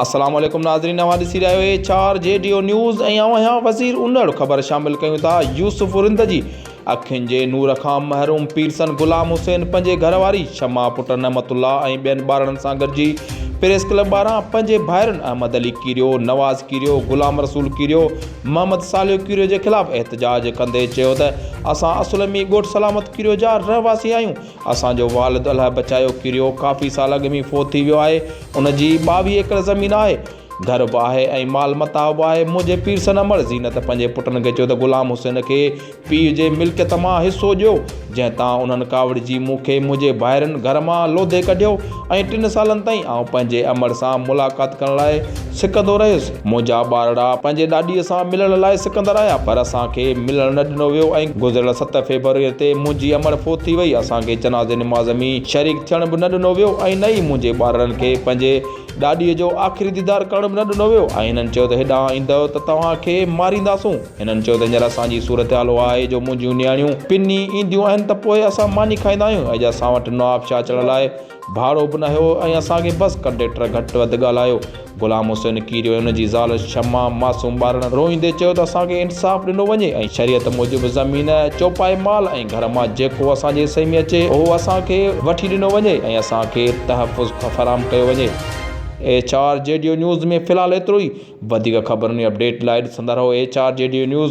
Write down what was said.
السلام عليڪم ناظرين اوهان ڏسي رهيا آهيو اي چار جي ڊيو نيوز ۽ آئون آهيان وزير انڙ خبر شامل ڪيون ٿا يوسف رند جي اکين جي نور کان محروم پيرسن غلام حسين پنهنجي گهر واري شمع پٽ نعمت الله ۽ ٻين ٻارڙن سان گڏجي پريس ڪلب ٻاهران پنهنجي ڀائرن احمد علي ڪيريو نواز ڪيريو غلام رسول ڪيريو محمد صالح ڪيريو جي خلاف احتجاج ڪندي چيو ته اسان اصل ۾ ڳوٺ سلامت ڪيريو جا رهواسي آهيون اسان جو والد الهه بچايو ڪيريو ڪافي سال اڳ ۾ فوت ٿي ويو آهي ان جي ٻاويهه ايڪڙ زمين آهي گهر به آهي ۽ مال متاع به آهي منهنجي پيرسن امڙ زينت پنهنجي پٽن کي چيو ته غلام حسين کي پيء جي ملڪيت مان حصو ڏيو، جنهن تان انهن ڪاوڙجي مون کي منهنجي ڀائرن گهر مان لوڌي ڪڍيو ۽ ٽن سالن تائين آئون پنهنجي امڙ سان ملاقات ڪرڻ لاء سڪندو رهيس. منهنجا ٻارڙا پنهنجي ڏاڏيء سان ملڻ لاء سڪندر آيا، پر اسان کي ملڻ نه ڏنو ويو ۽ گذريل ست فيبروريء تي منهنجي امڙ فوت ٿي وئي. اسان کي جنازي نماز ۾ شريڪ ٿيڻ به نه ڏنو ويو ۽ نه ئي منهنجي ٻارڙن کي پنهنجي ڏاڏيء جو آخري ديدار ڪرڻ به نه ڏنو ويو ۽ هنن چيو ته هيڏانهن ايندؤ ته توهان کي مارينداسون. هنن چيو ته هينئر اسان جي صورتحال اها آهي جو منهنجيون نياڻيون پني اينديون آهن ته پوء اسان ماني کائيندا آهيون اڄ اسان وٽ نوابشاهه اچڻ لاء ڀاڙو به نه هيو ۽ اسان کي بس ڪنڊيڪٽر گهٽ وڌ ڳالهايو غلام حسين ڪيريو ۽ ان جي زال شمع معصوم ٻارڙن روئيندي چيو ته اسان کي انصاف ڏنو وڃي ۽ شريعت موجب زمين چوپائي مال ۽ گهر مان جيڪو اسان جي حصي ۾ اچي اهو اسان کي وٺي ڏنو وڃي ۽ اسان کي تحفظ فراهم ڪيو وڃي. H R G D news ۾ في الحال ايترو ئي. وڌيڪ خبرن ۽ اپڊيٽ لاء ڏسندا رهو H R G D news.